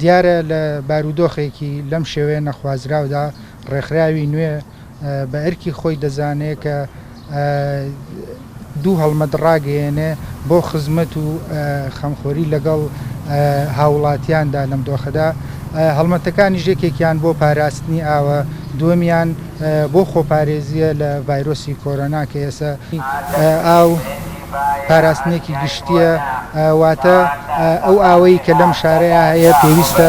دیارە لە بارودۆخێکی لەم شێوەیە نەخوازراودا، ڕێکخراوی نوێ، بە ئەرکی خۆی دەزانێ کە دوو هەڵمەت ڕاگەیەنێ بۆ خزمەت و خەمخۆری لەگەڵ هاوڵاتیاندا لەم دۆخەدا هەڵمەتەکانیش یەکێکیان بۆ پاراستنی ئاوە دووەمیان بۆ خۆپارێزیە لە ڤایرۆسی کۆرۆنا کە ئێسە ئاو پاراستنێکی گشتیە واتە ئەو ئاوەی کە لەم شارەیە هەیە پێویستە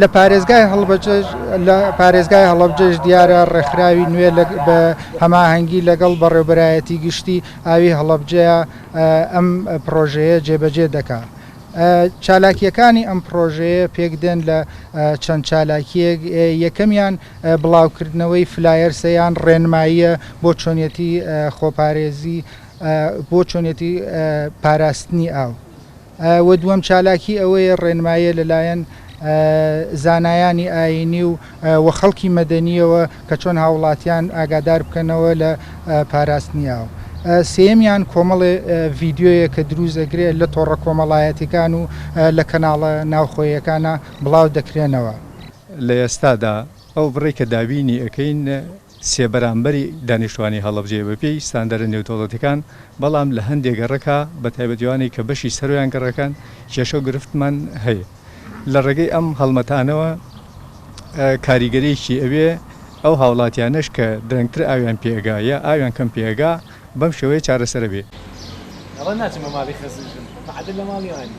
لە پارێزگای هەڵەبجەش دیارە ڕێکخراوی نوێ بە هەماهەنگی لەگەڵ بەڕێوبەرایەتی گشتی ئاوی هەڵەبجەیە ئەم پرۆژەیە جێبەجێ دەکا. چالاکیەکانی ئەم پرۆژەیە پێک دێن لە چەند چالاکیەک یەکەمیان بڵاوکردنەوەی فلایەر سەیان ڕێنماییە بۆ چۆنیەتی خۆپارێزی بۆ چۆنیەتی پاراستنی ئاو. و دووەم چالاکی ئەوەیە ڕێنماییە لەلایەن زانایانی ئایینی و و خەڵکی مەدەنییەوە کە چۆن هاوڵاتیان ئاگادار بکەنەوە لە پاراستنی ئاو. سێیەمیان کۆمەڵێ ڤیدیۆیە کە دروست دەکرێ لە تۆڕە کۆمەڵایەتیکان و لە کەناڵە ناوخۆیەکانا بڵاو دەکرێنەوە. لە ئێستادا ئەو بڕەی کە دابینی ئەکەین، سێ بەرامبەری دانیشتوانی هەڵەبجەیە بەپێی ستاندەرە نێودەوڵەتیەکان، بەڵام لە هەندێ گەڕەکە بە تایبەتی ئەوانەی کە بەشی سەرۆیان گەڕەکەن کێشەو گرفتمان هەیە. لە ڕێگەی ئەم هەڵمەتانەوە کاریگەریەکی ئەوێ ئەو هاوڵاتیانەش کە درەنگتر ئاویان پێ ئەگا یا ئاویان کەم پێ ئەگا بەم شێوەیە چارەسەر ئەبێ. ئەوە ناچم بە ماڵی خەزن ژن مەعەدەل لە ماڵی ئەوانی.